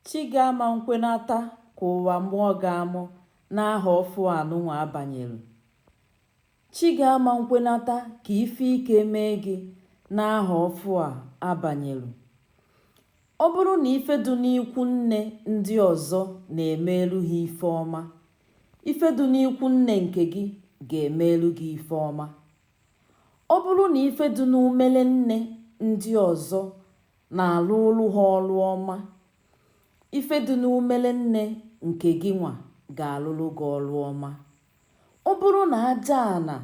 Chi gị ama nkwenata ka ụwa mụọ gị amụ n'aha ọfụ anụnwa a banyelu. Chi gị ama nkwenata ka ife ike mee gị n'aha ọfụ a a banyelu. Ọ bụrụ na ife dị n'ikwu nne ndị ọzọ na-emeelu ha ife ọma, ife dị n'ikwu nne nke gị ga-emeelu gị ife ọma. Ọ bụrụ na ife dị n'umele nne ndị ọzọ na-alụụlụ ha ọrụ ọma. Ife dị n'umere nne nke gịnwa ga-alụrụ gị ọrụ ọma. Ọ bụrụ na aja ana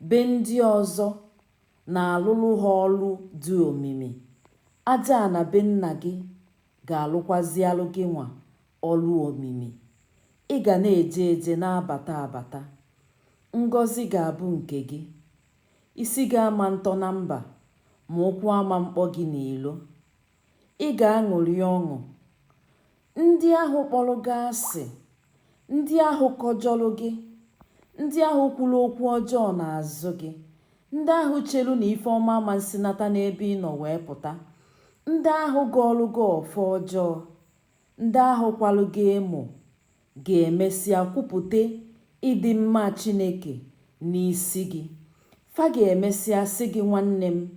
be ndị ọzọ na-alụrụ ha ọrụ dị omimi, aja ana be nna gị ga-alụkwazialụ gịnwa ọrụ omimi. Ị ga na-eje eje na-abata abata. Ngọzi ga-abụ nke gị. Isi gị ama ntọ na mba, ma ụkwụ ama mkpọ gị n'ilo. Ị ga-aṅụrị ọṅụ. Ndị ahụ kpọrọ gị asị, ndị ahụ kọjọrọ gị, ndị ahụ kwuru okwu ọjọọ n'azụ gị, ndị ahụ chelu na ife ọma ama nsinata n'ebe ị nọ wee pụta, ndị ahụ gọọlụ gị ọfọ ọjọọ, ndị ahụ kwalụ gị emo, ga-emesịa kwupụta ịdị mma Chineke n'isi gị. Fa ga-emesịa sị gị, Nwanne m,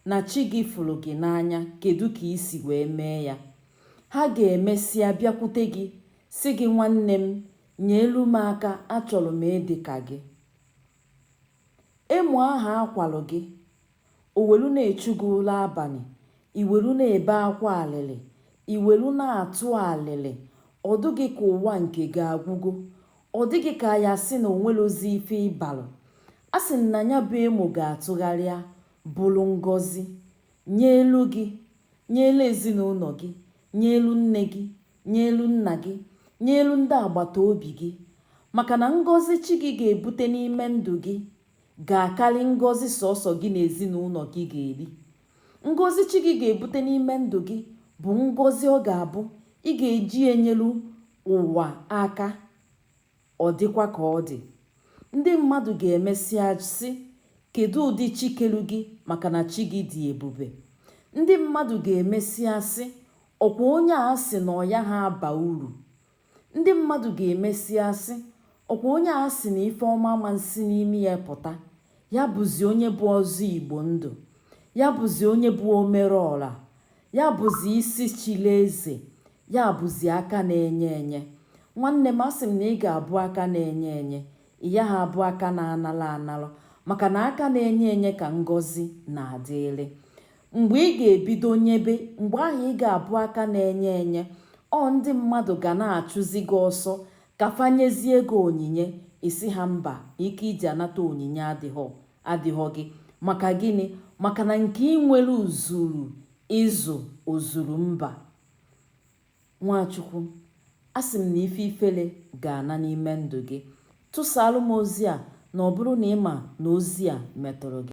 na chi gị fụrụ gị n'anya, kedụ ka i si wee mee ya? Ha ga-emesịa bịakwute gị, sị gị, Nwanne m, nyeelu m aka, achọrọ m ịdị ka gị. Emo ahụ a kwalụ gị, o welu na-echu gị ụla abanị, i welu na-ebe akwa alịlị, i welu na-atụ alịlị, ọ dụ gị ka ụwa nke gị agwugo, ọ dị gị ka a ya sị na o nwelozi ife ị balụ. Asị m na ya bụ emo ga-atụgharịa bụrụ ngọzi nyeelu gị, nyeelu ezinụnọ gị, nyeelu nne gị, nyeelu nna gị nyeelu ndị agbata obi gị maka na ngọzi chi gị ga-ebute n'ime ndụ gị ga-akarị ngọzi sọsọ gị na ezinụnọ gị ga-eri ngọzi chi gị ga-ebute n'ime ndụ gị bụ ngọzi ọ ga-abụ ị ga-eji enyelu ụwa aka Ọ dịkwa ka ọ dị, ndị mmadụ ga-emesịa sị, Kedụ ụdị chi kelu gị maka na chi gị dị ebube? Ndị mmadụ ga-emesịa sị, Ọ kwa onye a sị na ọ yaha aba uru? Ndị mmadụ ga-emesịa sị, Ọ kwa onye a sị na ife ọma ama nsi n'ime ya pụta? Ya bụzi onye bụ ọzọ Igbo ndụ? Ya bụzi onye bụ omereọra? Ya bụzi isi chili eze, ya bụzi aka na-enye enye. Nwanne m, asị m na ị ga-abụ aka na-enye enye, ị yaha abụ aka na-anara anara, maka na aka na-enye enye ka ngọzi na-adịrị. Mgbe ị ga-ebido nyebe, mgbe ahụ ị ga-abụ aka na-enye enye, ọ ndị mmadụ ga na-achụzi gị ọsọ ka fa nyezie gị onyinye, ị sị ha mba, ike iji anata onyinye adịghọ. adịghọ gị maka gịnị maka na nke ị nwere o zuru ezu o zuru mba nwa chukwu asị m na ife ifele ga-ana n'ime ndụ gị tụsaalụ m ozi a na ọ bụrụ na ị ma na ozi a metụrụ gị